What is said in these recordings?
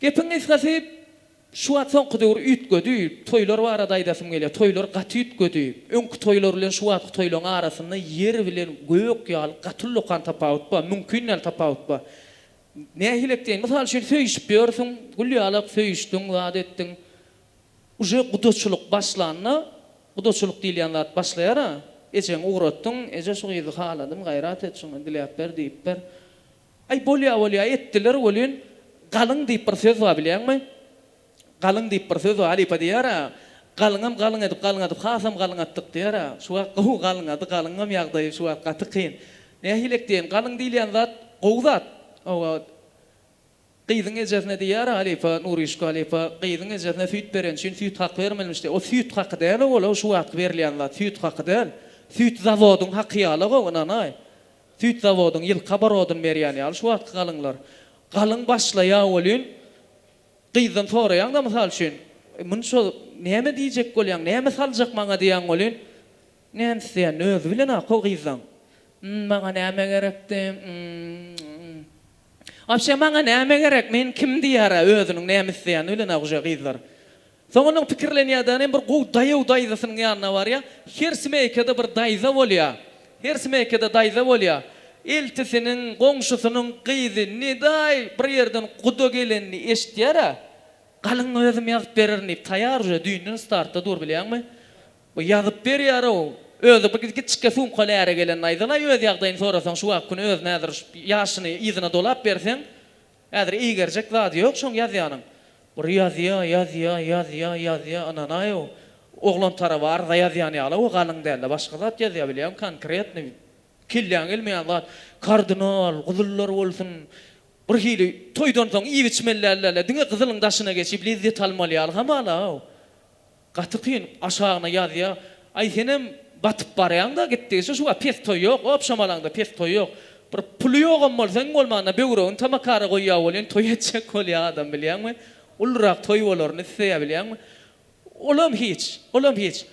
Gepiň gysgasy, şu wagt soňky döwür üýtgedi. Toýlar barada aýdasym gelýär. Toýlar gaty üýtgedi. Öňki toýlar bilen şu wagtky toýlaryň arasynda ýer bilen gök ýaly gaty ullakan tapawut bar. Mümkin däl tapawut bar. Nähili etseň, mysal üçin, söýüşip ýörsüň, gülýalak söýüşdiň, zat etdiň. Uje gudaçylyk başlanda, gudaçylyk diýilýän zat başlaýar-a, ejeňi ugratdyň, Eje, şu gyzy haladym, gaýrat et, şuňa diläp ber, diýip ber. Aý, bolýa, bolýa, etdiler welin, galyň diýip bir söz bar, bilýäňmi? Galyň diýip bir söz bar, halypa diýer-ä, Galyňam galyň edip, galyňadyp, hasam galyňatdyk diýer-ä. Şu wagt gowy galyňady, galyňam ýagdaýy şu wagt gaty kyn. Nähilek diýeýin, galyň diýilýän zat gowy zat. Hawa, gyzyň ejesine diýer-ä halypa, Nurüşka halypa, gyzyň ejesine süýt bereni üçin süýt haky bermelimiş diýer. O süýt haky däl-ow ol, o şu wagtky berilýän zat süýt haky däl. Süýt zawodyň haky ýaly-ow, ynanaý. Süýt zawodyň ýylky oborodyn berýän ýaly şu wagtky galyňlar. Galyň başlaýa welin, gyzdan soraýaň-da, mysal üçin, Muny şo näme diýjek bolýaň, näme saljak maňa diýýäň welin, Näme isleýän, özi bilen-ä ko gyzlaň. Ým, maňa näme gerekdi, ým. Wapşe, maňa näme gerek, men kim diýýär-ä, özüniň näme isleýäni bilen-ä guje gyzlar. Soňundan pikirlenýärden hem bir gowy daýaw daýzasynyň ýanyna barýar. Her smeýkada bir daýza bolýar. Her smeýkada daýza bolýar. Eltisiniň, goňşusynyň gyzy Nedaý bir ýerden guda gelenini eşitýär-ä. Galyň özüm ýazyp bererin diýip, taýýar uje, düýnden startda dur bilýäňmi. Bu ýazyp berýär-ow. Özi bir kiçikge sumkaly äre gelenini aýdalaý, öz ýagdaýyny sorasaň, şu wagt gün özüne äzir, ýaşyny yzyna dolap berseň, Häzir eýgerjek zady ýok şoň ýazýanyň. Bir ýazýa, ýazýa, ýazýa, ýazýa, ynanaýow. Oglan tarapy arza ýazýan ýaly-ow galyň dälde başga zat ýazýa bilýäň konkretny kelläň gelmeýän zat. Kardynal, gyzyllar bolsun. Bir hili toýdan soň iýip-içmeli dälde-le, diňe gyzylyň daşyna geçip lezzet almaly ýaly hamala-ow. Gaty kyn aşagyna ýazýa. Aý senem batyp barýaňda gitdigiçe şuwagt pes toý ýok obşamalaňda pes toý ýok. Bir puly ýogam bolsa iň bolmanda böwregini tamakara goýýa welin toý etjek bolýa adam bilýäňmi. Ulurak toý bolaryny isleýä bilýäňmi. Olam hiç. Olam hiç.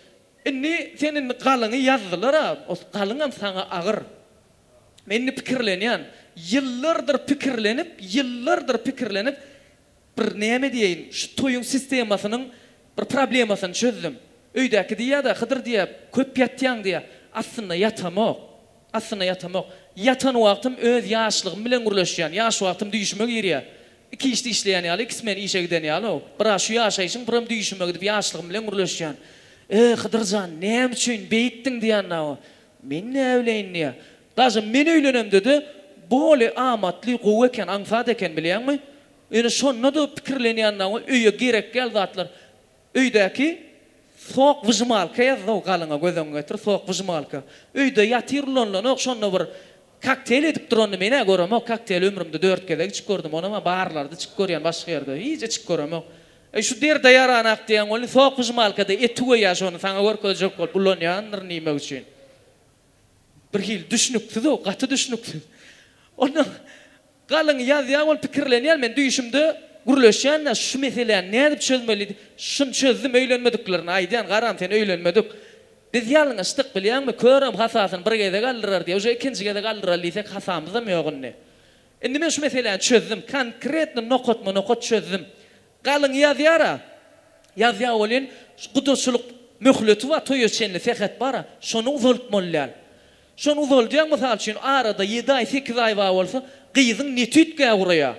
Indi sen indi galyňy ýazdylara ol galyňam saňa agyr. Men indi pikirlenýän. Ýyllardyr pikirlenip ýyllardyr pikirlenip Bir näme diýeýin, şu toýuň sistemasynyň bir problemasyny çözdüm. Öýdäki diýýär-de, Hydyr diýýär, köp ýatýaň diýýär. Aslynda ýatamok. Aslynda ýatamok. Ýatan wagtym öz ýaşlygym bilen gürleşýän. Ýaş wagtym düýşüme girýär. Iki işde işleýän ýaly, ikisi meni işe giden ýaly-ow. Biraz şu ýaşaýşym, biram düýşüme gidip ýaşlygym bilen gürleşýän. Öe, Hydyr jan, näme üçin beýikdiň diýýän-ä-ow. Men näbileýin diýýär. Daşym men öýlenemde-de boli amatly, gowy eken, aňsat eken bilýäňmi? Ýöne şonda-da pikirlenýännaw öýe gerek däl zatlar. Öýdäki sok wyžmalka ýazdaw galyňa göz öňüňe getir, sok wyžmalka. Öýde ýatyr ulanlanok, şonda bir kokteýl edip duranyny men-ä göremok, kokteýl ömrümde dört gezek içip gördüm, onam-a barlarda içip görýän, başga ýerde hiç içip göremok. Eý şu derde ýaranak diýen welin sok wyžmalkada eti goýýar şony saňa görkezjek bolup ulanýandyr nime üçin. Bir hili düşnüksiz-ow, gaty düşnüksiz. Onnoň galyň ýazýa bolup pikirlenýän men düýşümde gürleşýän-ä şu meseläni nädip çözmeli diýip. Şuny çözdüm, öýlenmediklerini aýdýan, garam sen öýlenmedik. Biz ýalňyşdyk bilýäňmi, körem hasasyny bir gezek aldyrar diýýär, uje ikinji gezek aldyraly diýsek hasamyzam ýok indi. Indi men şu meseläni çözdüm, konkretno nokatma-nokat çözdüm. Galyň ýazýar-a. Ýazýar welin, gudaçylyk möhleti bar, toýa çenli sähet bar-a. Şony uzaltmaly däl. Şony uzaldýaň, mysal üçin, arada ýedi aý, sekiz aý bar bolsa, gyzyň ne tüýtgä guraýar.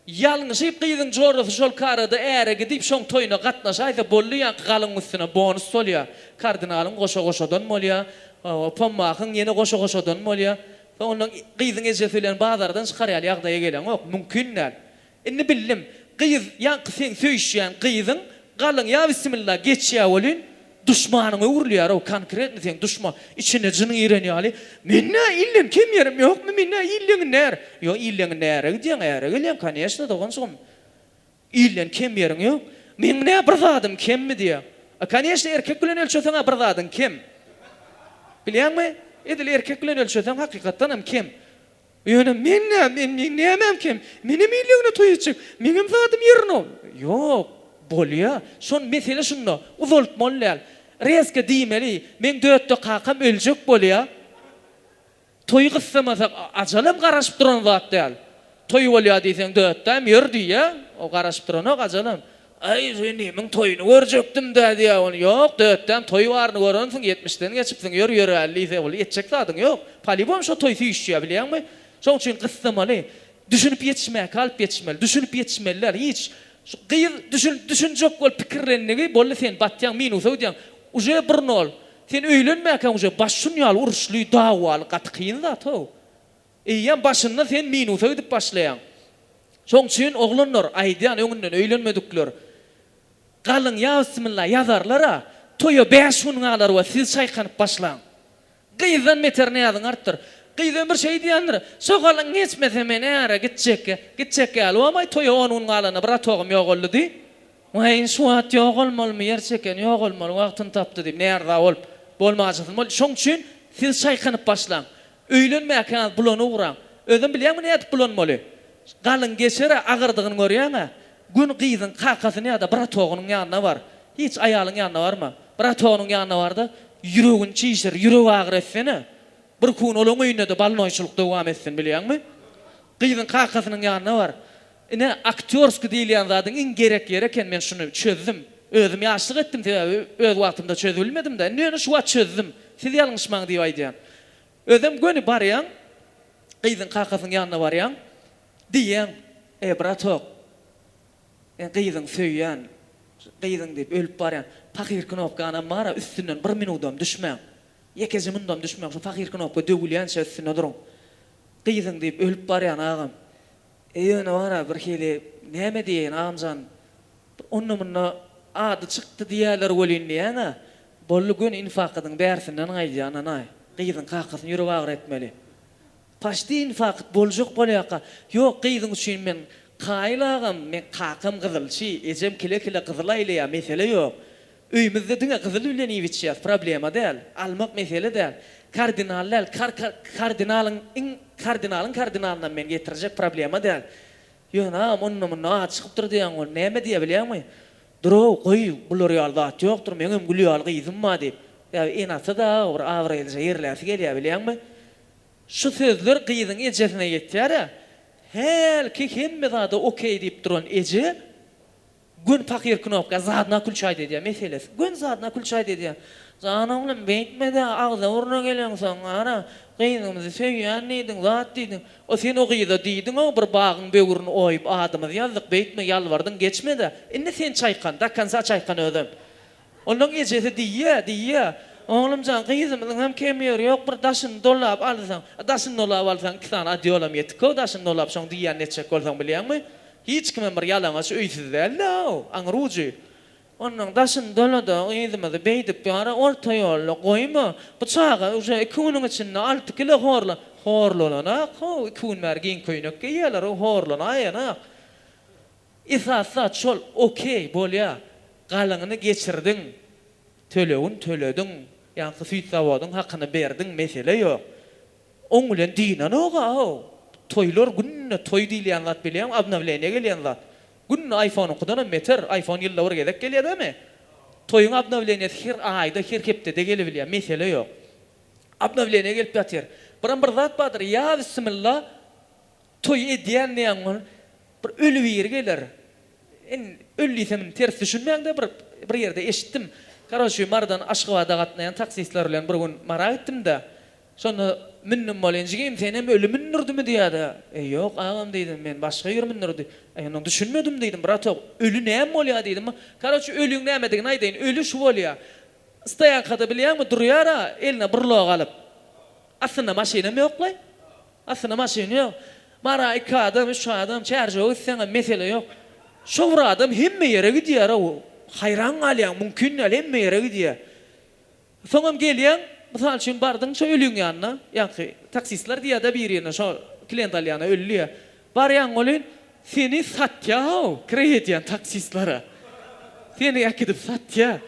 Ýalňyşyp gyzyň jorasy şolky arada äre gidip, şoň toýuna gatnaşaýsa, boldy, ýaňky galyňyň üstüne bonus solýar. Kardinalyň goşa-goşadan bolýar, Pommakyň ýene goşa-goşadan bolýar. Soň ondan gyzyň ejesi bilen bazardan çykarýaly ýagdaýa geleňok. Mümkin däl. Indi bildim. Gyz ýaňky seň söýüşýän gyzyň galyň ýa bismilla geçýä welin duşmanyňa öwrülýärow konkretno seň duşma içine jyn giren ýaly men nä ilden kem ýerim ýokmy men nä illeňin när ýok illeňin näre gidýäň äre gelýäň koneşno doganjygym ilden kem ýeriň ýok meň nä bir zadym kemmi diýä a koneşno erkek bilen ölçeseňä bir zadyň kem bilýäňmi edil erkek bilen ölçeseň hakykatdanam kem Ýöne men nä, meniň nämem kem? Menem ýylygyna toý etjek, meňem zadym ýerine. Ýok, bolýa. Şon mesele şunda, uzaltmaly däl. Rezka diýmeli, meň dötde kakam öljek bolýa. Toýy gyssamasak, ajalam garaşyp duran zat däl. Toý bolýa diýseň dötdäm ýör diýýä. O garaşyp duranok ajalam. Aý, Zenimiň toýuny görjekdim-dä diýýär ol. Ýok, dötdem, toý baryny görensiň, ýetmişden geçipsiň, ýör, ýöräli diýse, ol etjek zadyň ýok. Polibom şo toý süýşýär, bilýäňmi? Şoň üçin gyssamaly. Düşünip ýetişmäki alyp ýetişmeli. Düşünip ýetişmeli däl, hiç. Şu gyz düşün, düşünjek bolup pikirlendigi, boldy sen batýaň, minusa gidýäň. Uje burnol. Sen öýlenmäkäň uje baş şun ýaly uruşly, dawaly, gaty kyn zat-ow. Eýýäm başynda sen minusa gidip başlaýaň. Şoň üçin oglanlar, aýdýan öňünden öýlenmedikler, galyň ýa bismilla ýazarlar-a, toýa bäş gün galar we siz çaýkanyp başlaň. Gyzdan beter näziň artdyr. Gyz ömür şeý diýendir, Şo galyň geçmese men äre gitjekkä, gitjek ýaly bolmaý, toýa on gün galanda bir otagym ýogaldy diý. Weýin şu wagt ýogalmalymy, ýer çeken ýogalmaly wagtyny tapdy diýip, näriza bolup, bolmajysyny bolýar. Şoň üçin siz çaýkanyp başlaň. Öýlenmäkäň bulana ugraň. Özem bilýäňmi nädip bulanmaly? Galyň geçer-ä agyrdygyny görýäň-ä. Gün gyzyň kakasynyň ýa-da bratogynyň ýanyna bar. Hiç aýalyň ýanyna barma. Bratogynyň ýanyna bar-da, ýüregini çişir, ýürek agyry etsene. Birki gün olaň öýünde-de balnoýçylyk dowam etsin, bilýäňmi? Gyzyň kakasynyň ýanyna bar. Ine aktýorski diýilýän zadyň iň gerek ýeri eken men şuny çözdüm. Özüm ýaşlyk etdim sebäbi öz wagtymda çözübilmedimda indi ýöne şu wagt çözdüm. Siz ýalňyşmaň diýip aýdýan. Özem göni barýaň gyzyň kakasynyň ýanyna barýaň diýýäň e bratok men gyzyňy söýýän gyzyň diýip ölüp barýan pahyr knopkanam bara üstünden bir minudam düşmäň ýekeje mundam düşmäň şu pahyr knopka döwülýänçä üstünde duruň gyzyň diýip ölüp barýan agam E ýöne bar-a birhili näme diýeýin agamjan, bir onda-munda ady çykdy diýerler welin diýýän-ä. Boldy göni infakydyň bärsinden gaýdýan-a-naý. Gyzyň kakasyny ýürek agyry etmeli. Paşdi infakyt boljak bolýarka, ýok gyzyň üçin men kaýyl agam, men kakam gyzylçy, ejem kile-kile gyzyl aýlaýar, mesele ýok. Öýümizde diňe gyzyl bilen iýip içýäs, problema däl, almak mesele däl, kardinal däl, kar kar kardinalyň iň kardinalyň kardinalynam men getirjek problema däl, ýöne agam onda munda ady çykypdyr diýýäň ol näme diýýä bilýäňmi, durow goý bular ýaly zat ýokdur meňem gül ýaly gyzym bar diýip, ýa enasida aga bir abraýlyja ýerläsi gelýä bilýäňmi, şu sözler gyzyň ejesine ýetýärä, hälki hemme zada okey diýip duran eje, Gön pahyr knopka zadna kulçaý dedýä meselesi gön zadna kulçaý dedýä jan oglum beýtmedä agza burna geleňsoň gara gyzymyzy söýýän diýdiň zat diýdiň o sen o gyza diýdiňow bir bagyň böwrüni oýup adymyzy ýazdyk beýtme ýalbardyň geçmedä indi sen çaýkan dakonsa çaýkan özem Olaň ejesi diýýä, diýýä, Oglumjan, gyzymyzyň hem kemi ýeri ýok, bir daşyny dolap alsaň, a daşyny dolap alsaň, iki sany odýolam ýetik-ow daşyny dolap, şoň diýýän netjek bolsaň bilýäňmi? Hiç kimem bir ýalaňaç öýsüz däl-ow, aň rujy! Onnoň daşyny dola-da, gyzymyzy beýdip ýara orta ýolda goýma, bu çaga uje iki günüň içinde alty kilo horla, horlananak-ow, iki gün bäri giň köýnek geýýäler-ow, horlanaýanak. Esasy zat şol okey bolýa galyňyny geçirdiň tölegini tölediň ýaňky süýt zawodyň hakyny berdiň mesele ýok oň bilen dynanoga how toýlar günde toý diýilýän zat bilýäňmi obnowleniýa gelýän zat günde aýfonyňkydanam beter aýfon ýylda bir gezek gelýädämi toýuň obnowleniýasy her aýda her hepdede gelibilýä mesele ýok obnowleniýa gelip ýatyr biram bir zat bardyr ýa bissimilla Toý edýän diýen ol bir öli biri geler. Indi öli diýsem indi ters düşünmäňde bir bir ýerde eşitdim. Karoçi Marydan Aşgabada gatnaýan taksistler bilen bir gün Mara gitdimde, şonda mündüm bolýan jigim senem öli mündürdimi diýýärdi. Eý ýok agam diýdim men başga ýüri mündürdi. Eý onda düşünmedim diýdim bratok öli näme bolýa diýdim. Karoçi öliň nämedigini aýdaýyn öli şu bolýa. Stoýankada bilýäňmi durýara eline burlog alyp. Astynda maşynam ýoklaý. Aslynda maşyn ýok. Bara iki adam, üç adam çärjewe gitseňem mesele ýok. Şo bir adam hemme ýere gidýär-ow. Haýran galýaň, mümkin däl, hemme ýere gidýär. Soňam gelýäň, mysal üçin bardyň şo ölüň ýanyna, ýaňky taksistler diýýär-de birine, şo klient alýana öli diýýär. Barýaň welin, seni satýar-ow, kireý edýän taksistlere. Seni äkidip satýar.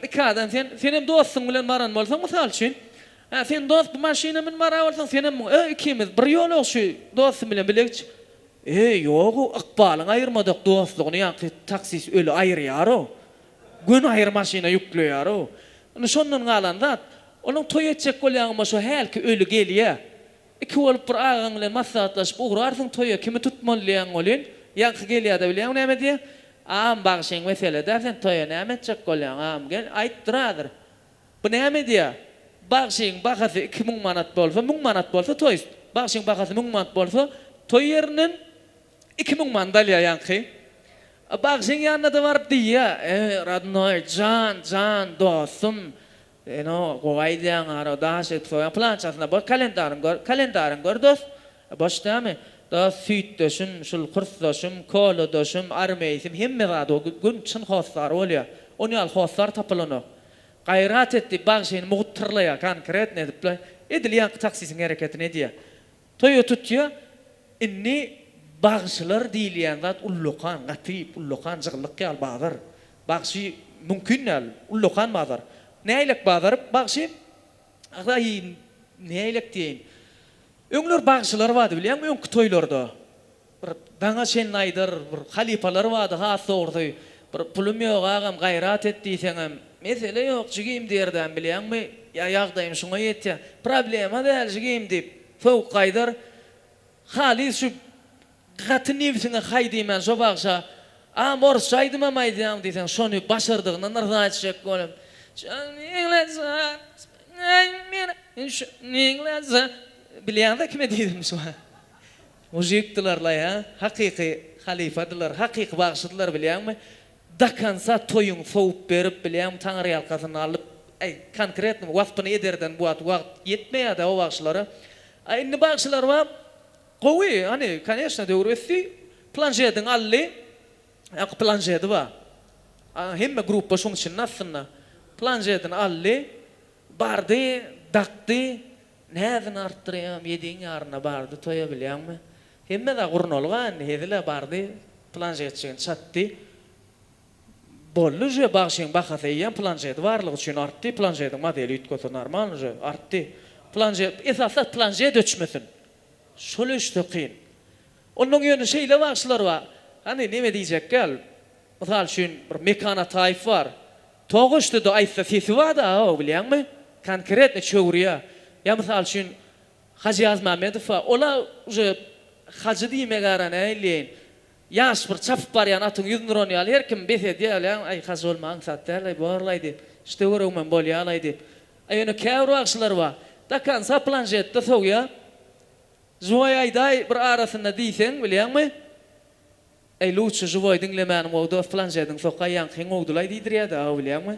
Iki adam sen, senem dostuň bilen baran bolsaň, mysal üçin, Hä sen dost bu maşyna mün bara bolsaň senem mün öö ikimiz bir ýolagşy dostum bilen bile gitjik öö ýogu ykbalyň aýyrmadak dostlugyny ýaňky taksist öli aýyrýarow gün aýyr maşyna ýükleýarow indi şondan galan zat onuň toý etjek bolýaňma şo hälki öli gelýä iki bolup bir agaň bilen maslahatlaşyp ugrarsyň toýa kimi tutmaly diýýäň welin ýaňky gelýäde bilýäňmi näme diýýä agam bagşyň meseledä sen toýa näme etjek bolýaň agam gel aýt durazr Bu näme edýär? Bagşyň bahasy iki müň manat bolsa, müň manat bolsa, toýst. Bagşyň bahasy müň manat bolsa, toý ýerinden iki müň manat alýar ýaňky. Bagşyň ýanyna-da baryp diýýär, Eý, rodnoý, jan, jan, dostum, sen-o gowy aýdýaň, ara daş edip soýaň, plançasyna boş kalendaryňy gör, kalendaryňy gör, dost. Boş dämi? Dost, süýtdeşim, şul kursdaşym, kolodaşym, armeýsim, hemme zady o gün çyn hossary bolýar. Ony ýaly hossar tapylanok. Gaýrat et diýip bagşyny mugt tyrlaýar, konkretno edipler. Edil ýaňky taksisiň hereketini edýär. Toýa tutýar. Indi bagşylar diýilýän zat ullakan, gaty ullakan jygyllyk ýaly bazar. Bagşy mümkin däl, ullakan bazar. Näýlek bazar bagşy? Ahy, näýlek diýeýin. Öňler bagşylar bardy bilýäňmi, öňki toýlarda. Bir daňa çenli aýdar bir halypalar bardy has dogrusy. Bir pulum ýok agam gaýrat et diýseňem, mesele ýok jigim diýerdäm bilýäňmi, ýa ýagdaýym şuňa ýetýä, problema däl jigim diýip, sowuk gaýdar. Halys şu gaty nebsiňe haý diýmän şo bagşa, Agam orsça aýdymam aýdýaň diýseň şony başardygyndan yrza etjek bolum. Şony lasat Aý meni şony lasat Bilýäňdä kime diýdim şu. Mujikdiler la hä? Hakyky halypadylar, hakyky bagşydylar bilýäňmi? Dokonca toýuň sowup berip bilýäňmi taňyrýalkasyn alyp äý konkretno waspyny ederden bu wagt wagt ýetmeýädä o bagşylara. A indi bagşylar bar gowy hany koneşno döwür ösdi planşediň aldy ak planşedi bar a hemme gruppa şuň içinde aslynda planşedini aldy bardy dakdy Näzini artdyrýam, ýediň ýaryna bardy, toýa bilýäňmi? Hemme-zat gurnalga indi, hezil-ä bardy, planşet jigini çatdy. Boldy uje, bagşyň bahasy eýýäm planşeti barlygy üçin artdy, planşetiň modeli üýtgese normalny uje, artdy. Planşet, esasy planşet öçmesin. Şol öçse kyn. Onnoň ýöne şeýle bagşylar bar, hany neme diýjek ýaly, Mysal üçin, bir Mekan Ataýew bar. Togaşdyda aýtsa sesi bardy aga-ow bilýäňmi? Konkretno çöwürýä. Ýa mysal üçin, Hajy Ýazmämmedow bar. Ol-a uje Hajy diýmegi ara näleýin. Ýaş bir çapyp barýan atyň ýüzüni uran ýaly her kim bes edýä bilýäňmi, aý Hajy bolma aňsat däl-aý bor-laý diýip, şite göregimem bolýa-laý diýip. A ýöne käbir bagşylar bar, dakansa planjetde sowýa, Zuwaý aýdaý bir arasynda diýseň bilýäňmi, Eý lutçy žiwoý diňlemäni gowy dos planşediň sokaý ýaňkyň gowdulaý diýdirýäda aga bilýäňmi.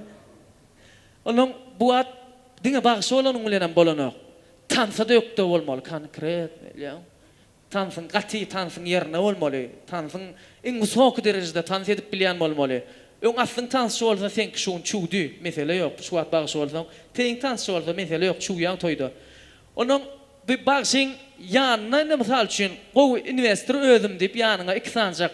Onuň bu wagt diňe bagşy bolanyň bilenem bolanok. Tansada ökde bolmaly konkretno bilýäňmi. Tansyň gaty tansyň ýerine bolmaly. Tansyň iň wysoky derejede tans edip bilýän bolmaly. Öň aslyň tansçy bolsa seňki şu gün çüwdi mesele ýok. Şu wagt bagşy bolsaň teýiň tansçy bolsa mesele ýok çüwýäň toýda. Onuň bu bagşyň ýanyna indi mysal üçin gowy inwestor özüm diýip ýanyňa iki sanjak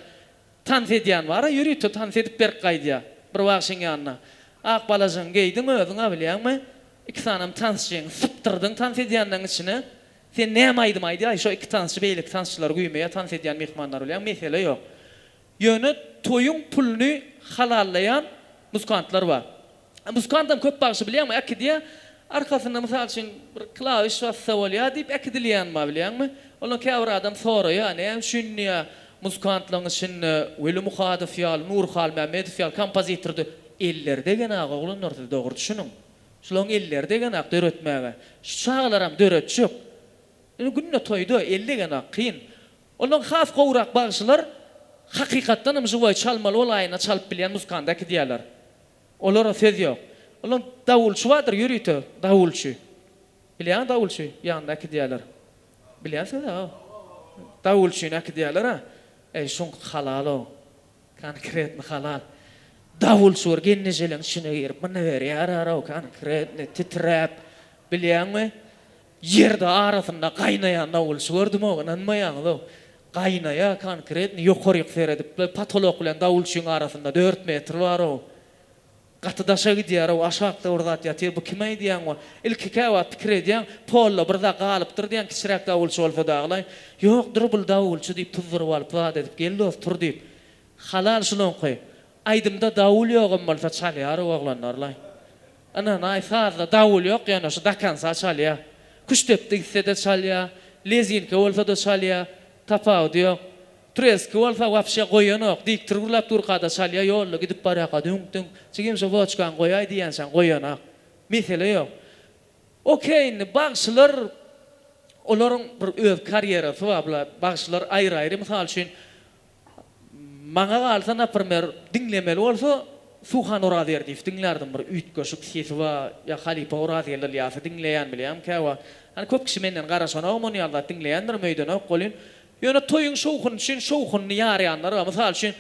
tans edýän bara ýörite tans edip berip gaýdýa bir bagşyň ýanyna ak balajygyňy geýdiň özüňa bilýäňmi iki sanem tansçyňy sypdyrdyň tans edýänleriň içine sen näme aýdym aýdýaý şo iki tansçy beýleki tansçylar güýmeýä tans edýän myhmanlar bilýäň mesele ýok Ýöne toýuň puluny halallaýan muzkantlar bar. Muzkantam köp bagşy bilýäňmi, äkidýä, arkasynda mysal üçin bir klawiş bassa bolýa diýip äkidilýän bar bilýäňmi. Ondan käbir adam soraýa, näme üçin diýä, muzkantlaň içinde Weli Muhadow ýaly, Nury Halmämmedow ýaly kompozitordy. Elleri degenok oglanlar siz dogry düşüniň. Şulaň elleri degenok döretmäge. Şu çagalaram döretjek. Indi günde toýda el degenok kyn. Ondan has gowrak bagşylar hakykatdan hem žiwoý çalmaly bol aýyna çalyp bilýän muzkanda äkidýärler. Olara söz ýok. Olar dawulçy bardyr ýörite dawulçy. Bilýäňä dawulçy ýanynda äkidýärler. Bilýänsiňiz a o dawulçyny äkidýärler a. Eý şuňky halal o. Konkretny halal. Dawulçy bir gennejeleň içine girip mnyberýär a row konkretny titräp. Bilýäňmi? Ýerde arasynda gaýnaýan dawulçy gördüm-ow, ynanmaýaňyz-ow. Gaýnaýar, konkretny, ýokaryk seredip-le, potolok bilen dawulçyň arasynda dört metr bar-ow. Gaty daşa gidýär-ow, aşakda bir zat ýatyr, bu kim aýdýaň we ilki käwagt pikir edýäň, polda bir zat galypdyr diýýäň, kiçiräk dawulçy bolsa dagy-laý. Ýokdur bul dawulçy diýip, tuzduryp alyp, zat edip, gel dost, tur diýip. Halal şunuňky. Aýdymda dawul ýogam bolsa çalýar oglanlarlaý. Ynanaý sazda dawul ýok ýöne şu dakansa çalýa. Küştdepdi gitsede çalýa, lezinka bolsada çalýa, tapawudy ýok. Treski bolsa wapşe goýanok, dik trgurlap durkada çalýa ýolda gidip barýaka düňk düňk, jigim şu woçkany goýaý diýençäň goýanak. Mesele ýok. Ok indi bagşylar olaryň bir öz karýerasy bar bular bagşylar aýry aýry mysal üçin Maňa galsa naprmer diňlemeli bolsa Suhan Orazberdiýew diňlärdim bir üýtgeşik sesi bar ýa halypa Orazgeldi Ylýasy diňleýän bilýän käwagt ýani köp kişi menden garaşanok ony ýaly zat diňleýändirim öýdenok welin ýöne toýuň şowhuny üçin şowhunyny ýarýanlar bar mysal üçin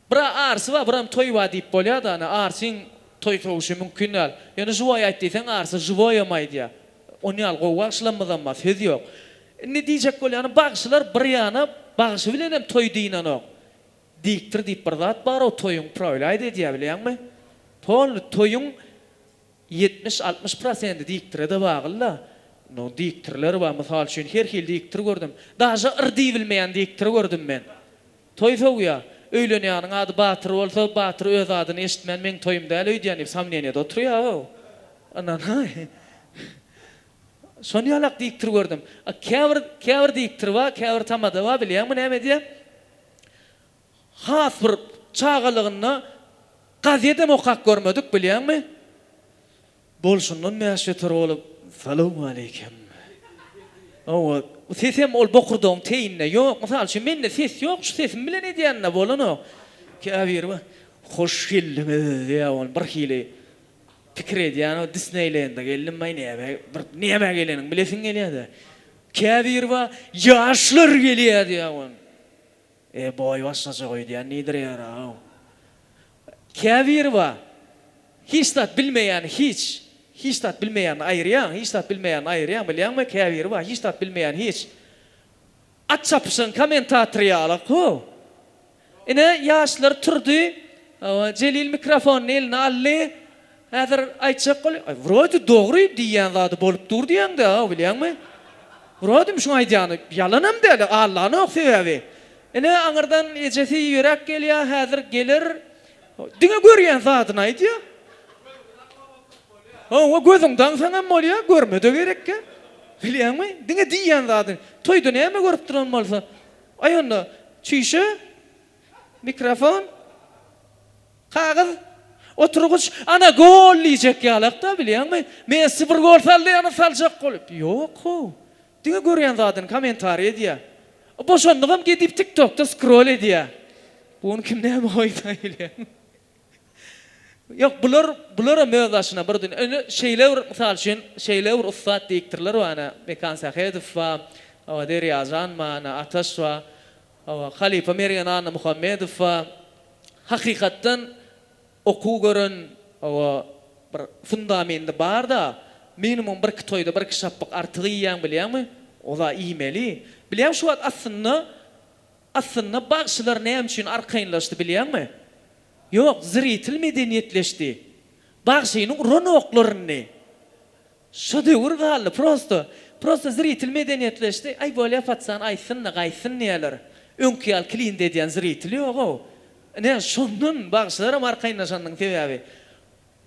bira arsy bar biram toýy bar diýip bolýada ony arsyň toý sowuşy mümkin däl ýöne žiwoý aýt diýseň arsy žiwoýam aýdýa ony ýaly gowy bagşylammyzam bar söz ýok Indi diýjek bolýanym, bagşylar bir ýana, bagşy bilenem toý dynanok. Diktor diýip bir zat bar-ow, toýuň uprawilaýt edýär, bilýäňmi? Polny toýuň ýetmiş, altmyş prosendi diktire-de bagly-da. Indi diktirler bar, mysal üçin, her hili diktir gördüm. Daže yr diýibilmeýän diktir gördüm men. Toý sowýar. Öýlenýäniň ady Batyr bolsa, Batyr öz adyny eşitmän, meň toýum däl öýdýän diýip, somneniýede oturýar-ow. Ynanaý. Şony ýalak diýipdir gördüm. A käbir käbir diýipdir ba käbir tamada ba bilýäňmi näme edýär? Has bir çagalygynda gazetem okap görmedik bilýäňmi? Bolşundan bäş beter bolup Salowmaleýkim. Hawa, bu sesem ol bokurdagyň teýinde ýok. Mysal üçin mende ses ýok, şu sesim bilen edýände bolanok. Käbiri ba Hoş geldiňiz diýýär ol birhili. Pikir edýän o Disneýlende geldim baý näme bir näme geleniň bilesiň gelýädä. Käbir bar ýaşlar gelýä diýýä wan. E boý başgaça öýdýän nidirýäraw. Käbir bar hiç zat bilmeýän hiç hiç zat bilmeýän aýyrýaň hiç zat bilmeýän aýyrýaň bilýäňmi käbir bar hiç zat bilmeýän hiç At çapyşan komentatory ýala kow. Ine, ýaşlar turdy. Jelil mikrofony eline aldy. Häzir aýtjak bolýar. Aý, wrodi dogry diýýän zady bolup dur diýýäň-dä, bilýäňmi? Wrodimi şuň aýdýany? Ýalanam däl-a, allanok sebäbi. Ine, aňyrdan ejesi ýöräp gelýär, häzir geler. Diňe görýän zadyny aýdýa. Hawa gözüň daňsaňam bolýa, görmede gerekkä. Bilýäňmi? Diňe diýýän zadyň. Toýda näme görüp duran bolsa. Aý onda çüýşe, mikrofon, kagyz, oturgyç, ana gol diýjek ýalakda bilýäňmi? Messi bir gol saldy ýa-da saljak bolup. Ýok-how. Diňe görýän zadyny kommentariý edýä. Boşandygam gedip tik tokda skrol edýä. Bu gün kim näme goýsa ile. Ýok bular bularam öz başyna bir dünýä. Indi şeýle bir mysal üçin şeýle bir ussat diýipdirler we ana Mekan Sähedow bar, hawa Derýajan bar, ana Ataş bar, hawa halypa Mergen Annamuhammedow bar. Hakykatdan Okuw gören oba bir fundamendi barda minimum birki toýda birki şapbak artygy iýýäň bilýäňmi? Oza iýmeli. Bilýäň şu wagt aslynda aslynda bagşylar näme üçin arkaýynlaşdy bilýäňmi? Ýok zritel medeniýetleşdi. Bagşynyň uran oklaryny. Şo döwür galdy prosto. Prosto zritel medeniýetleşdi. Aý bolýa patyşany aýtsyn-da gaýtsyn diýerler. Öňki ýaly klient edýän zritel ýog-ow. Ine, şondan bagşylaram arkaýynlaşandyň sebäbi.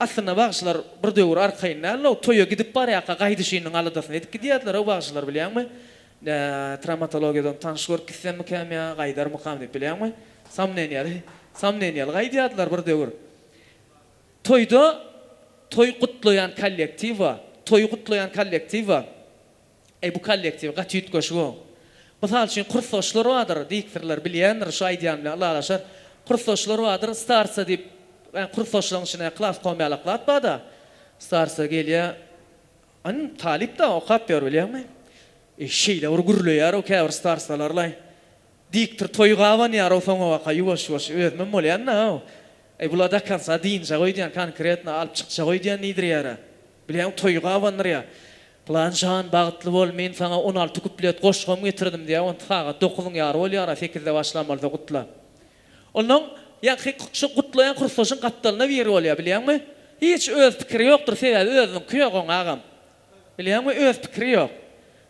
Aslynda bagşylar bir döwür arkaýyn däldi-ow. Toýa gidip barýarka gaýdyşynyň aladasyny edip gidýärdiler-ow bagşylar bilýäňmi. Nä, trawmatologiýadan tanyş görüp gitsemmikäm ýa gaýdarmykam diýip bilýäňmi. Samneniýaly, samneniýaly gaýdýardylar bir döwür. Toýda toý gutlaýan kollektiwa, toýy gutlaýan kollektiwa, Eý, bu kollektiw gaty üýtgeşig-ow. Mysal üçin, kursdaşlar bardyr, diktorlar bilýändir, şu aýdýan bilen ylalaşar. Kursdaşlar bardyr, starca diýip, ä, kursdaşlaryň içine klas komýalaklap bar-da, starca gelýär, Yn, talyp-da, okap ýör, bilýäňmi? Eý, şeýle bir gürleýär-ow käbir starcalar-laý. Diktor toýy gabanýarow soňabaka ýuwaş-ýuwaş özümem bolýan-da-ow. Eý bula dakansa dynjaga öýdýän konkretno alyp çykjaga öýdýän diýdirýär-ä. Bilýäňmi toýy gabandyrýar. Pylan jan bagtly bol men saňa on alty kuplet goşgam getirdim diýýär onda sagat dokuzyň ýary bolýar-a sekizde başlan bolsa gutla. Onnoň ýaňky şu gutlaýan kursaşyň gapdalyna biri bolýar bilýäňmi. Hiç öz pikiri ýokdur sebäbi özüniňki ýok oň agam. Bilýäňmi öz pikiri ýok.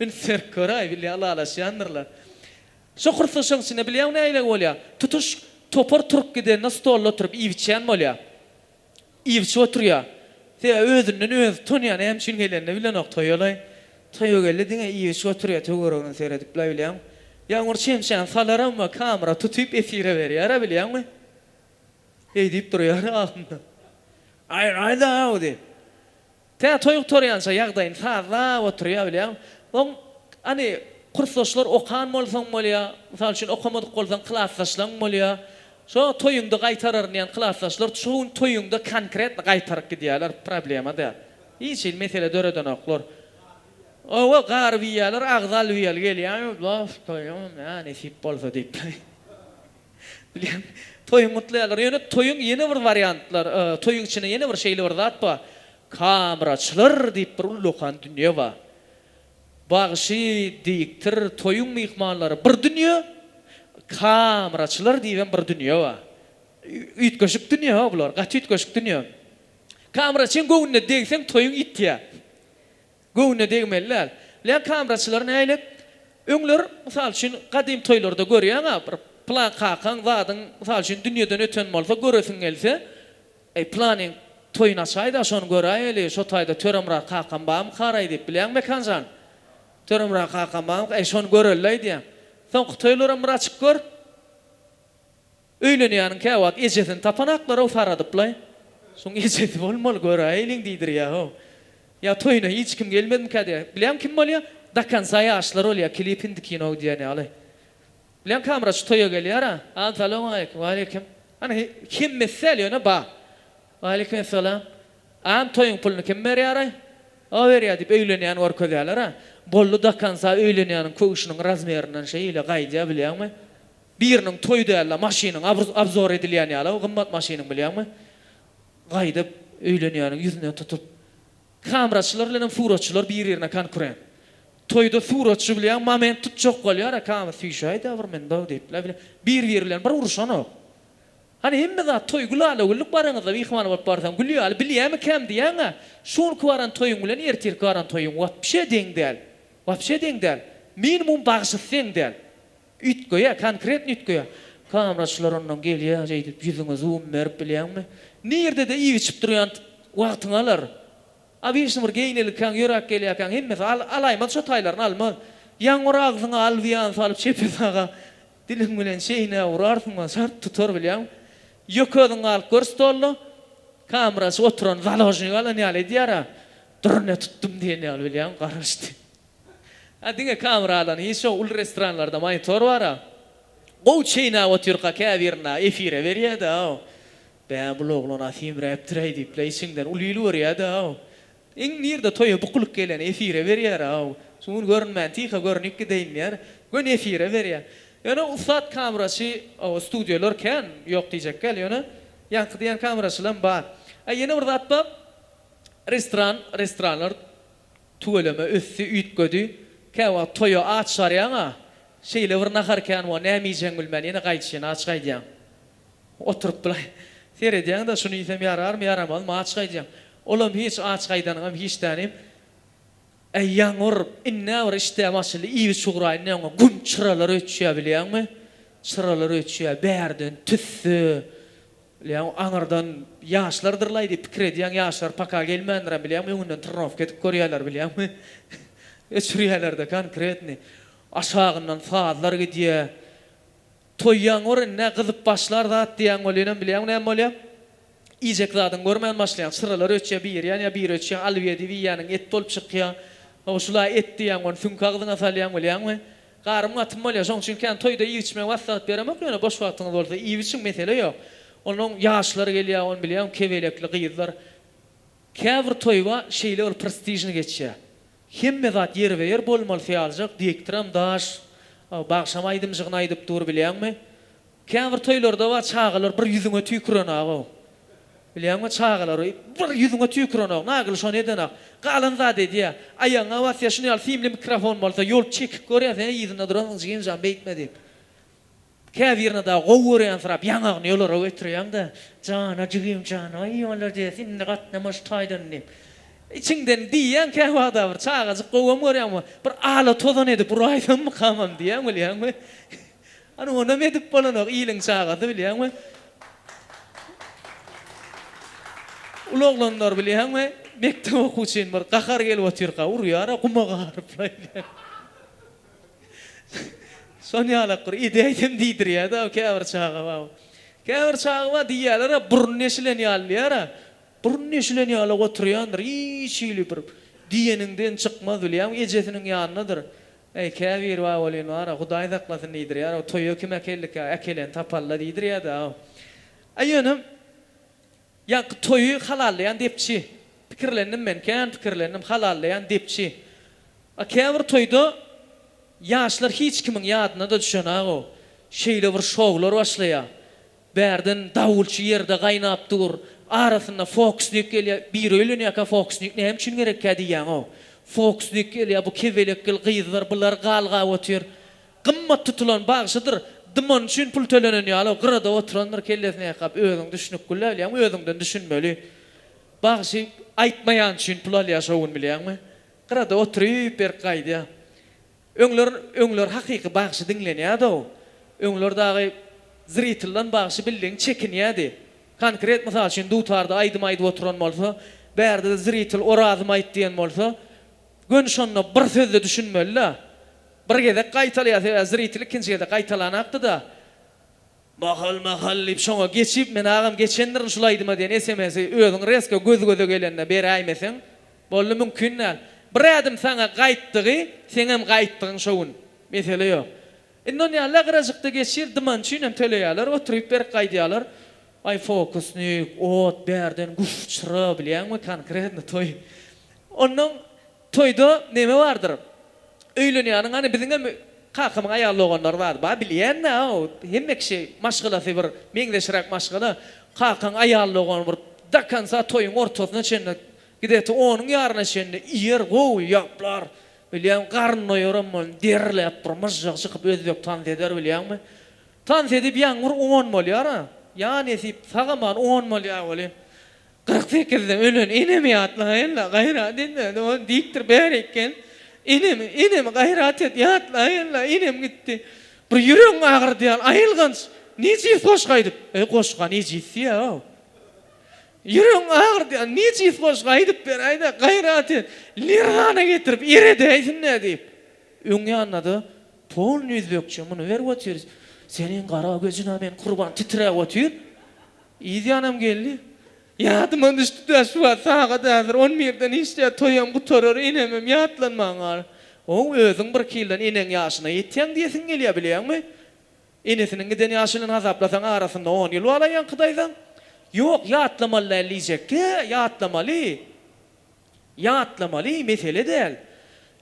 Indi serk gör-aý, bilýän ylalaşýandyrlar. Şo hyrsyşyň içinde bilýäňmi nähili bolýa? Tutuş topar turup gidende stolda oturyp iýip-içýän bolýa. Iýip-içip oturýa. Sebäbi özünden özi utanýa, näme üçin gelenini bilenok toýa-laý. Toýa geldi diňe iýip-içip oturýa töweregine seredip-laý bilýäňmi. Ýaňur çemçäni salaram we kamyra tutyp efire berýär-ä bilýäňmi. Heý diýip durýar agzynda. Aý, aýda-aw diýip. Tä toý gutarýança ýagdaýyny sazlap oturýar bilýäň. Oň, hany, kursdaşlar okan bolsaň bolýa, mysal üçin okamadyk bolsaň klasdaşlaň bolýa. Şo toýuňda gaýtararyn diýen klasdaşlar şo gün toýuňda konkretno gaýtaryp gidýärler, problema däl. Hiç hili mesele döredenoklar. Owo, garyp iýýärler, agzy alwiýaly gelýär, Baf, toýum, nä nesip bolsa diýip. Bilýän. Toýuň gutlaýarlar. Ýöne toýuň ýene bir wariantlar, toýuň içinde ýene bir şeýle bir zat bar. Kamraçylar diýip bir ullakan dünýe bar. Bagşy, diktir, toýuň myhmanlary bir dünýe, kamraçylar diýibem bir dünýe bar. Üýtgeşik dünýe-ha bular, gaty üýtgeşik dünýe. Kamraçyň göwnüne degseň toýuň ýitýär. Göwnüne degmeli däl. Lä kameraçylar nälet? Öňler, mysal üçin, gadym toýlarda görýäň-ä, bir plan kakaň, zadyň, mysal üçin, dünýeden öten bolsa, göresiň gelse, Eý, planyň toýuny açaý-da, şony göräýeli, şo taýda Töremyrat kakam barmykaraý diýip, bilýäňmi, Mekan jan? Töremyrat kakam barmyka? Eý, şony görelilaý diýýäň. Soňky toýlaram bir açyp gör. Öýlenýäniň käwagt ejesini tapanaklar-ow saradyp-laý. Şoň ejesi bolmaly, göräýeliň diýdirýä-ow. Ýa toýuna hiç kim gelmedmikä diýýä. Bilýäň kim bolýa? Do konca ýaşlar bolýa, klip indi kino diýýän ýaly. Bilýäň kamera şu toýa gelýär-ä. An salowmaleýkim. Waleýkim. Ana hemmesi däl ýöne ba. Waleýkim essalam. An toýuň puluny kim berýär-aý? O berýä diýip öýlenýäni görkezýäler-ä. Boldy do konca öýlenýäniň köwşüniň razmerinden şeýle gaýdýa bilýäňmi. Biriniň toýy dälde maşynyň abzor edilýän ýaly o gymmat maşynyň bilýäňmi gaýdyp öýlenýäniň ýüzüne tutup kameraçylar bilenem suratçylar bir birine konkurent toýda suratçy bilýäň moment tutjak bolýara kama süýşäýdä bir munda diýip bile bile bir biri bilen bir uruşanok hany hemme zat toý gülalagüllük baranyzda myhman bolup barsaň gül ýaly bilýämi kem diýýäňä şu günki baran toýuň bilen ertirki baran toýuň wapşe deň däl wapşe deň däl minimum bagşysy deň däl. Üýtgeýär, konkretno üýtgeýär. Kameraçylar ondan gelýär şeýdip ýüzüňe zoom berip bilýäňmi? Nirde-de iýip-içip durýan wagtyňy alar. Obýektna bir geýnelikäň, ýöräp gelýärkäň hemmesi al, alaýmaz şo taýlaryny almaz. Ýaňy bir agzyňa alwian salyp çepe saga diliň bilen çeýnäp urarsyň we çart tutar bilýäňmi? Ýöke özüň galyp gör stolda, kameraçy oturan založnik alan ýaly edýär-ä, durne tutdum diýen ýaly bilýäňmi? Garaşdy. A diňe kamera alan hiç yok uly restoranlarda monitor bara gowy çeýnäp otyrka käbirinde efire berýädä bä bul oglana simräpdiräý diýipla içiňden uly il görýädä iň nirde toýa bukulyk geleni efire berýärä şu gün görünmän tyha görnüp gideýin diýär göni efire berýä ýöne ussat kameraçy oba studiýalar kän ýok diýjekgäl ýöne ýaňky diýen kameraçylam bar a ýene bir zat bar restoran restoranlar Tüweleme ösdi, üýtgedi. Käwagt toýa aç barýaň-a, şeýle bir nahar kän bo, näme iýjegiňi bilmän, ýene gaýdyşyn, aç gaýdýaň. Oturyp bilaý, seredýäň-de, şuny iýsem ýararmy, ýaramazmy, aç gaýdýaň. Olam hiç, aç gaýdanyňam hiç tänim. Äý, ýaňyr, indi-ä bir işdäm açyldy, iýip-içip ugraýyn diýeňok, güm, çyralar öçýär, bilýäňmi? Çyralar öçýär, bärden tüsse, Bilýäňmi, aňyrdan ýaşlardyr-laý diýip pikir edýäň, ýaşlar paka gelmändirem, bilýäňmi, öňünden trenirowka edip görýärler, bilýäňmi, öçürýärler-de konkretny. Aşagyndan sazlar gidýär. Toýýaň gör indi-ä, gyzyp başlar zat diýýäň welinem, bilýäňmi näme bolýar? Iýjek zadyňy görmän başlaýaň. Çyralar öçýär, biri ýanýar, biri öçýär, alyp ýedibi iýýäniň et bolup çykýar. Ho, şul-a et diýýäň, ony süňk agzyňa salýaň, bilýäňmi? Garym gatym bolýar şoň üçin kän toýda iýip içmegi maslahat beremok ýöne boş wagtyňyz bolsa iýip içiň mesele ýok. Onuň ýaşlary gelýär ony bilýäň kebelekli gyzlar käbir toýba şeýle bir prestižny geçýär. Hemme zat ýerbe ýer bolmaly syýaljak diktoram daş bagşam aýdymjygyny aýdyp dur bilýäňmi. Käbir toýlarda bar çagalar bir ýüzüňe tüýkürenagow. Bilýäňmi çagalary bir ýüzüňe tüýkürenok Nagyl şony edenok. Galan zat edýä. Aýagyňa basýa şuny ýaly simli mikrofon bolsa ýol çekip görýä sen yzynda duransyň jigimjan beýtme diýip. Käbirini dagy gowy görýänsirap ýaňagyny ýolara götürýäňdä jana jigimjan aý molodes indi gatnama şu taýdan diýip. Içiňden diýýäň käwagda bir çagajyk gowam görýäňmi bir ala tozan edip uraýsammykamam diýýäň bilýäňmi. Ony onam edip bolanok, iliň çagasy bilýäňmi? Uly oglanlar bilýäňmi, mekdep okuwçyny bir gahary gelip otyrka urýar-a, guma garyplaý diýen. Şon ýalak bir edäýsem diýdirýär-de-ä käbir çaga bar. Käbir çaga bar, diýýärler-ä, burny deşilen ýaly diýýär-ä. Burny deşilen ýaly-a oturýandyr, hiç hili bir diýeniňden çykmaz bilýäňmi, ejesiniň ýanyndadyr. Eý, käbir babolin bar-a, Hudaý saklasyn diýdirýär-ow, toýa kim äkeldik ýa äkeleni tapal-la diýdirýär-dä-ow. A ýöne, ýaňky toýy halallaýan depçi. Pikirlendim men, kän pikirlendim, halallaýan depçi. A käbir toýda ýaşlar hiç kimiň ýadyna-da düşenag-ow. Şeýle bir şowlar başlaýar. Bärden dawulçy ýerde gaýnap dur. Arasynda fokusnik gelýä. Biri öýlenýäkä fokusnik näme üçin gerekkä diýýäňow. Fokusnik gelýä bu kebelekgil gyzlar bular gal gap otyr. Gymmat tutulan bagşydyr. Dymany üçin pul tölenen ýalow gyrada oturandyr kellesini ýakap özüň düşünip gülläbilýäňmi özüňden düşünmeli. Bagşy aýtmaýan üçin pul alýa şo gün bilýäňmi. Gyrada oturyp berk gaýdýa. Öňler öňler hakyky bagşy diňlenýädow öňler dagy zriteldan bagşy bildigiň çekinýädi konkret mysal üçin dutarda aýdym aýdyp oturan bolsa bärde zritel orazym aýt diýen bolsa göni şonda bir sözde düşünmelida bir gezek gaýtalaýa sebäbi zritel ikinji gezek gaýtalanakdyda Mahal mahal diýip şoňa geçip men agam geçendirin şul aýdyma diýen SMS-i özüň resko göz göze gelende beräýmeseň boldy mümkin däl. Bir ädim saňa gaýtdygy seňem gaýtdygyň şo gün. Mesele ýok. Indi ony ýaly agrajykda geçir dyman üçin hem töleýäler oturyp berk gaýdýalar. Aý fokusnik, ot bärden guşçra bilýäňmi konkretno toý. Onnoň Toýda neme bardyr. Öýlenýäniň hany biziňem kakamyň aýal doganlary bardy. Ba bilýänä o hemme kişi maşgalasy bir meňzeşräk maşgala. Kakaň aýal dogany bir do konca toýuň ortasyna çenli gideti onuň ýaryna çenli iýer gowy ýaplar. Bilýän garyn doýaram bolun derläp bir myžžygy çykyp özbek tans eder bilýäňmi. Tans edip ýaňyr on bolýara. Ýa nesip sag aman on bolýa welin. Kyrk sekizde ölen enemi ýatlaýynda gaýrat edýärdi, ol diýipdir, Bäri eken, enemi, enemi gaýrat et, ýatlaýynda, enem gitdi. Bir ýüregiň agyrdaýan aýylganç nejis goşgy aýdyp, öý goşga nejis diýýär-ow. Ýüregiň agyrdaýan nejis goşgy aýdyp beräýdä, gaýrat et, Lerzana getirip eredäýsin-dä diýip. Öň ýanynda-da polny üzbekçe muny berip otyr. Seniň gara gözüň-ä men gurban titräp otyr. Yz ýanam geldi. Ýadyma düşdi-dä şu wagt sagat häzir on birden işdä toýam gutarar enemem ýatlanman gal. Ow özüň birki ýyldan eneň ýaşyna ýetýäň diýesiň gelýä bilýäňmi? Enesiniň giden ýaşy bilen hasaplasaň arasynda on ýyl balaýýaňky daýzaň. Ýok ýatlamaly däl diýjekdi-ä ýatlamaly. Ýatlamaly mesele däl.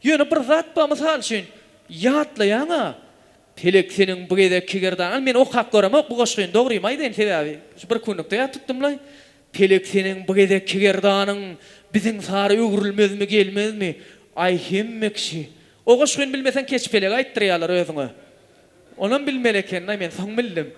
Ýöne bir zat bar, mysal üçin, ýatlaýaň-a. Pelek seniň bu gezekki gerdanyň men okap göremok bu goşgyny, dogrymy aýdaýyn, sebäbi şu bir kunlukda ýat tutdum-laý. Pelek seniň bu gezekki gerdanyň biziň sary öwrülmezmi, gelmezmi? Aý, hemme kişi. O goşgyny bilmeseň keç pelegi aýtdyrýarlar özüňe. Onam bilmeli ekeniň-aý, men soň bildim.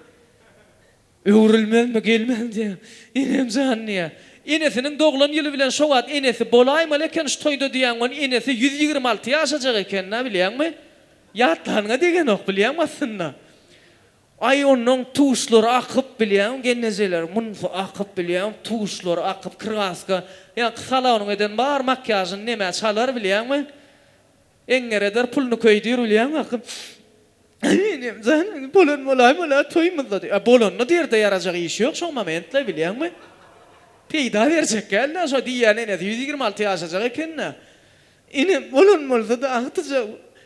Öwrülmezmi, gelmezmi diýýän. Enem jan diýýär. Enesiniň doglan ýyly bilen şo wagt enesi bolaýmaly eken şu toýda diýýän we enesi ýüz ýigrimi alty ýaşajak eken-dä bilýäňmi? Ýatlanyňa degenok bilýäňmi aslynda? Aý onuň tuşlary akyp bilýäňmi gelnejeler, munysy akyp bilýäňmi tuşlary akyp krgaska ýaňky salonyň eden bar makýažyny nemä çalar bilýäňmi? Eňňeredir puluny köýdür bilýäňmi akyp. Enem jan, bolan bolaý bolýar, toýumyzda diýip. Bolanda derde ýarajak iş ýok şo momentde, bilýäňmi? Peýda berjek däl-dä şo diýýän enesi, ýüz ýigrimi alty ýaşajak eken-dä. Enem, bolan bolsa-da, agtyja,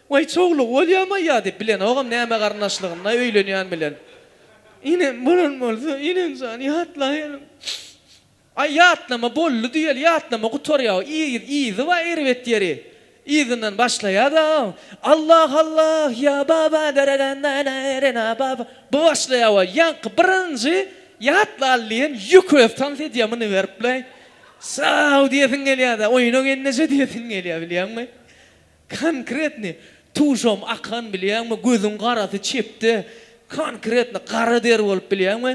waý, çowlugy bolýamaýýar diýip, bilenogam näme garyndaşlygyny öýlenýän bilen. Enem, bolan bolsa, enem jan, ýatlaýalyň. Aý ýatlama boldy düýeli ýatlama gutarýa yz yzy bar erbet ýeri yzyndan başlaýada Allah Allah ýa baba daradan nana erena baba bu başlaýa we ýaňky birinji ýatlaly diýen ýük öz tans edýä muny beripleý saw diýesiň gelýada oýna gelneje diýesiň gelýa bilýäňmi konkretny tuşam akan bilýäňmi gözüň garasy çepde konkretny gara der bolup bilýäňmi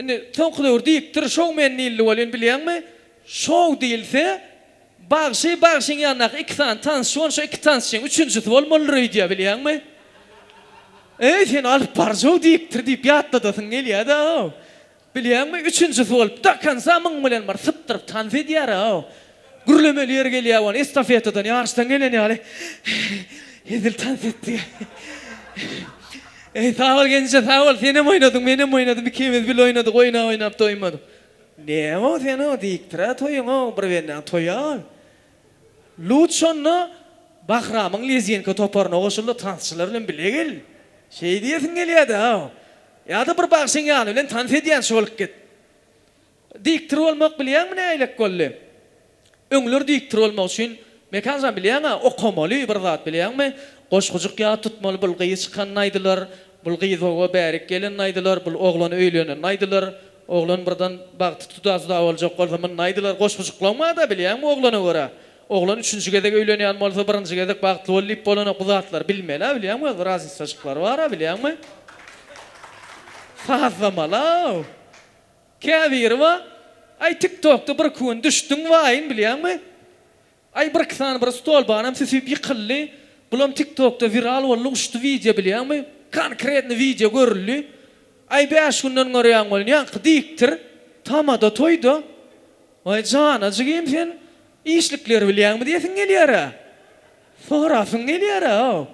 Indi soňky döwür diýipdir, şoumen diýildi welin, bilýäňmi, şou diýilse, bagşy, bagşyň ýanyndaky iki sany tansçy bolup, şo iki tansçynyň üçünjisi bolmalydyr öýdýär, bilýäňmi? Eý, seni alyp barjaw diýipdir diýip ýatladasyň gelýär-de-ow. Bilýäňmi, üçünjisi bolup, do konca muň bilen bir sypdyryp tans edýär-ow. Gürlemeli ýeri gelýär wan estafetadan, ýaryşdan gelen ýaly hezil tans etdi. Eý, sag bol genije, sag bol, senem oýnadyň, menem oýnadym, ikimiz bile oýnadyk, oýnap-oýnap doýmadyk. Näme-ow sen-ow, diýipdir-ä toýuň-ow, bir benden toýa-ow. Lut şonda Bahramyň lezginka toparyna goşuldy, tansçylar bilen bile gel. Şeý diýesiň gelýär-dä-ow. Ýa-da bir bagşyň ýany bilen tans edýänçä bolup git. Diktor bolmak bilýäňmi nägilek boldy. Öňler diktor bolmak üçin Mekanjan bilýäňä okamaly bir zat bilýäňmi goşgujyk ýat tutmaly bul gyz çykanyny aýdylar bul gyz oba bärik gelenini aýdylar bul oglan öýlenenini aýdylar oglan birden bagty tuda tuda boljak bolsa munda aýdylar goşgujyklaň bada bilýäňmi oglana görä oglan üçünji gezek öýlenýän bolsa birinji gezek bagtly bol diýip bolanok bu zatlary bilmelä bilýäňmi öz bir raznisaçyklary bara bilýäňmi sazlamala. Käbirowa, Aý tiktokda bir iki gün düşdüň waýyň bilýäňmi? Aý bir iki sany bir stolbanam süsüp ýykyldy, bulam tiktokda wiral boldy uçdy wideo bilýäňmi? Konkretny wideo görüldi. Aý bäş günden görýäň welin ýaňky diktir, tamada toýda. Waý jana jigim sen işlikleri bilýäňmi diýesiň gelýärä. Sorasyň gelýärä-ow.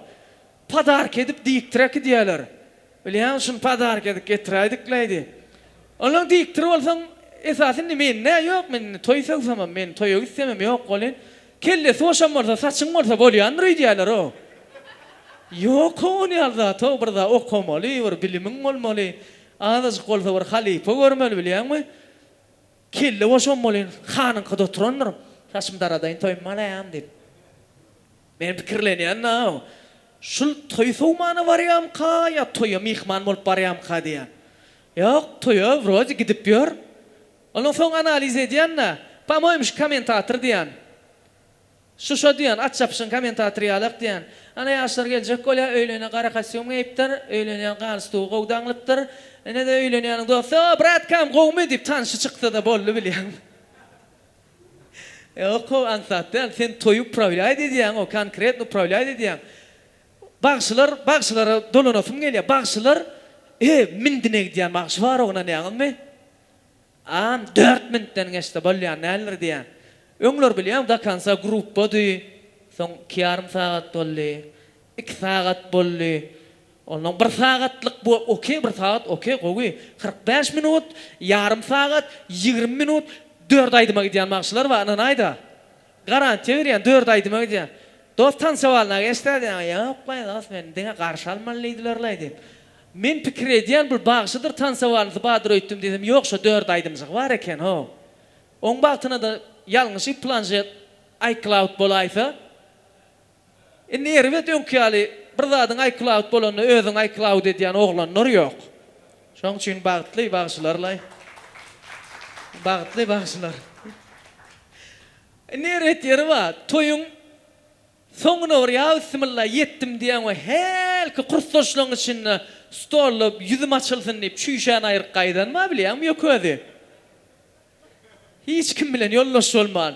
Podarka edip diktir äkidýäler. Bilýän, şuny padarka edip getiräýdikleýdi. Onsoň diktir bolsaň, esasy indi men, nä, ýok, men indi toý sygsamam, men toýa gitsemem ýok welin, kellesi boşam bolsa, saçyň bolsa bolýandyr öýdýärler-ow. Ýok-ow, ony ýaly zat-ow, bir zat okamaly, bir bilimiň bolmaly, azajyk bolsa bir halypa görmeli, bilýäňmi? Kelle boşam welin, hanyňkyda oturandyryn, saçymy daradaýyn, toýumy alaýyn diýip. Men pikirlenýän-ä-ow, şul toý sowmana barýamyka ýa toýa myhman bolup barýamyka diýýän. Ýok, toýa wrode gidip ýör. Ondan soň analiz edýän-ä, po-moým şu kommentator diýýän. Şuşa diýýän, aç ýapyşan kommentator ýalak diýýän. Ana ýaşlar geljek bolýar, öýlene gara kostýum geýipdir, öýlenýän galstugy gowy daňlypdyr. Ine-de öýlenýäniň dosty, O, bratkam, gowumy? diýip, tanşy çyksa-da boldy bilýäň. Ýok-ow aňsat däl, sen toýy uprawlýaýt edýäň-ow, konkretno uprawlýaýt edýäň. Bagşylar, bagşylara dolanasym gelýär. Bagşylar, e, mindine gidýän bagşy bar ognanýaňyzmy? Aam, dört mintden geçse bolýan däldir diýýän. Öňler bilýäň do konsa grupbady, soň iki ýarym sagat boldy, iki sagat boldy. Ondan bir sagatlyk bu ok bir sagat ok gowy kyrk bäş minut ýarym sagat ýigrimi minut dört aýdyma gidýän bagşylar bar ynanaýda garantiýa berýän dört aýdyma gidýän dos tansovalna geçdä diýen ýok laý dos meni diňe garşy almaly diýdiler laý diýip men pikir edýän bir bagşydyr tansowalnysy badyr öýtdüm diýsem ýok şo dört aýdymjygy bar eken ho oň bagtyna-da ýalňyşyp planşet iCloud bolaýsa. Indi erbet öňki ýaly bir zadyň iCloud bolanda özüň iCloud edýän oglanlar ýok. Şoň üçin bagtly bagşylarlaý. Bagtly bagşylar. Indi erbet ýeri bar. Toýuň soňuna bir ýa bismilla ýetdim diýeň we hälki kursdaşlaň içinde stolda ýüzüm açylsyn diýip çüýşän aýryk gaýdan bar bilýäňmi ýok özi. Hiç kim bilen ýoldaş bolman.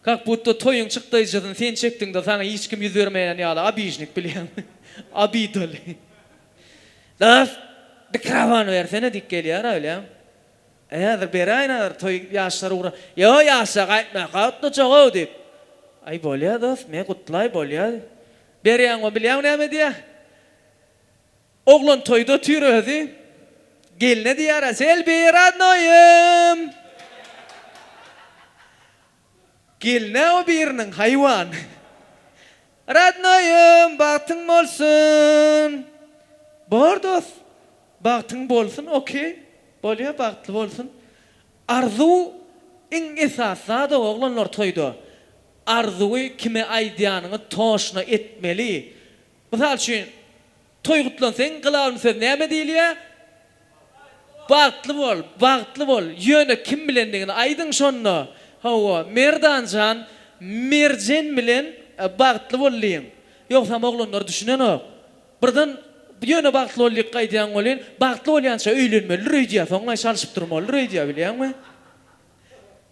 Kak budda toýuň çykdaýjysyny sen çekdiňda saňa hiç kim ýüz bermeýän ýaly abižnik bilýäňmi? Abi doly. Dos mikrofon bersene diýip gelýärä bilýäň. E häzir beräýin häzir toý ýaşlar ugra Ýo ýaşlar gaýtmaýaka gutlajak-ow diýip. Aý bolýa dos, men gutlaý bolýa. Berýäňo bilýäňmi näme diýýä? Oglan toýda otyr özi, gelne diýýär-ä, Selbi, radnoýym! Gelin-ä o biriniň, haýwan. Radnoýym, bagtyň bolsun! Bor, dost, bagtyň bolsun, okeý, bolýa, bagtly bolsun. Arzuw iň esasy zad-ow, oglanlar toýda. Arzuwy kime aýdýanyňy toşna etmeli. Mysal üçin, toý gutlansaň, galawyny söz näme diýilýär? Bagtly bol, bagtly bol. Ýöne kim bilendigini aýdyň şonda. Hawa, Merdan jan, Merjen bilen bagtly bol diýiň. Ýogsam oglanlar düşünenok. Birden ýöne bagtly bol diýip gaýdýan welin, bagtly bolýança öýlenmelidir öýdýär, soňlaý çalşyp durmalydyr öýdýär, bilýäňmi?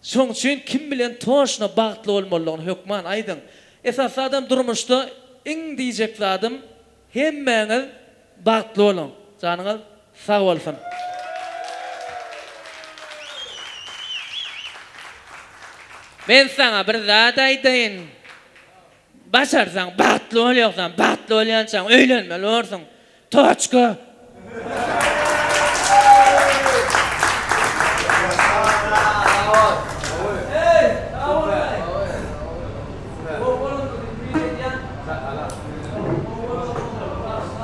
Şoň üçin kim bilen toşna bagtly bolmalydygyny hökman aýdyň. Esasy zadam durmuşda iň diýjek zadym hemmäňiz bagtly boluň. Janyňyz sag bolsun. Men saňa bir zat aýdaýyn. Başarsaň bagtly bolýogsan bagtly bolýançaň öýlenmeli borsuň. Toçka.